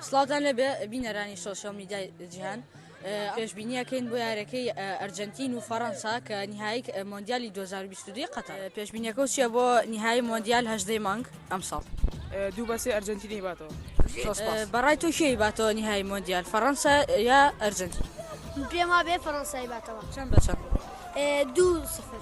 سڵاوتان لێبێ بینەرانی سۆشیال میدیای جیهان پێشبینیەکەین بۆ یارەکەی ئەرجنتین و فەڕەنسا کە نهایی مۆندیالی 2022 قەتەر پێشبینیەکە و چیە بۆ نهایی مۆندیال هەشدەی مانگ ئەم ساڵ دوو بەسێ ئەرجنتینی باتەوە بەڕای تۆ کێی باتەوە نهایی مۆندیال فەڕەنسا یا ئەرجنتین پێما بێ فەڕەنسای باتەوە چەند بە چەند دوو سفر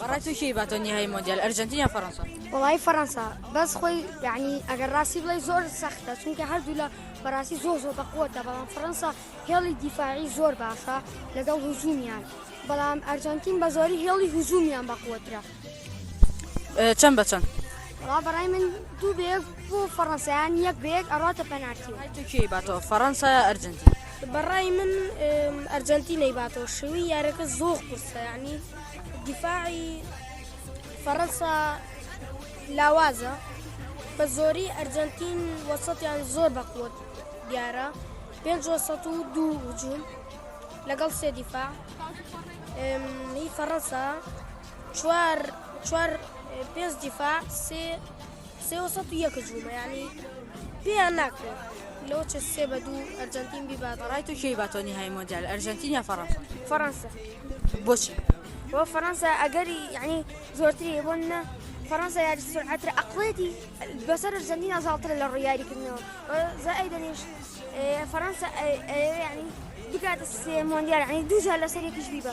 بەڕای تۆ کێی باتەوە نیهایی مۆندیال ئەرجەنتین یا فەڕەنسا وڵی فەڕەنسا بەس خۆی یعنی ئەگەر ڕاستی بڵی زۆر سەختە چونکە هەردوو لە بەڕاستی زۆر زۆر بەقوتە بەڵام فەڕەنسا هێڵی دیفاعی زۆر باشە لەگەڵ هزومیان بەڵام ئەرجەنتین بە زۆری هێڵی هزومیان بەقوترە چەند بە چەند ڕا بەڕای من دوو بێک بۆ فەڕەنسایان یەک بێک ئەڕاتە پەنارتی تورکی باتەوە فەڕەنسا ئەرجنتین بەڕای من ئەرجەنتی نەیباتەوە شوی یارەکە زۆخ قورسە ینی دیفاعی فەڕەنسا لاوازە بە زۆری ئەرجەنتین وەسەتیان زۆر بەقوت دیارە پێ دوو هجوون لەگەڵ سێ دیفاع هی فەڕەنسا چوار چوار پێنج دیفاع سێ سێ و سەد و یەک جوومە یانی پێیان ناکرێ لەوە چە سێ بە دوو ئەرجەنتین بیبات ڕای تو کێی باتۆنی های مۆندیال ئەرجەنتین یا فەڕەنسا فەڕەنسا بۆچی بۆ فەڕەنسا ئەگەری یعنی زۆرتری بۆ نە فەڕەنسا یاری سرعتر ئەقڵێتی بەسەر ئەرجەنتین ئازاڵترە لە ڕیاری کردنەوە زای دەنیش فەڕەنسا ینی بکاتە سێ مۆندیال ینی دوجار لەسەر یەکیش بیبە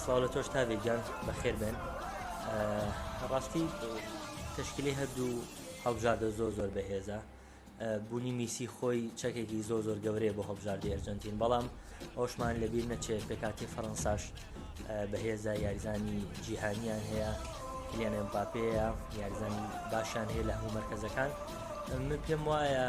سڵاو لە تۆش تاڤێ گیان بەخێر بێن ڕاستی تشکیلی هەردوو هەڵبژاردە زۆر زۆر بەهێزە بوونی میسی خۆی چەکێکی زۆر زۆر گەورەیە بۆ هەڵبژاردی ئەرجنتین بەڵام ئەوشمان لەبیر نەچێ پێکاتی فەڕەنساش بەهێزە یاریزانی جیهانیان هەیە کلیانێن باپەیە یاریزانی باشیان هەیە لە هەموو مرکزەکان من پێم وایە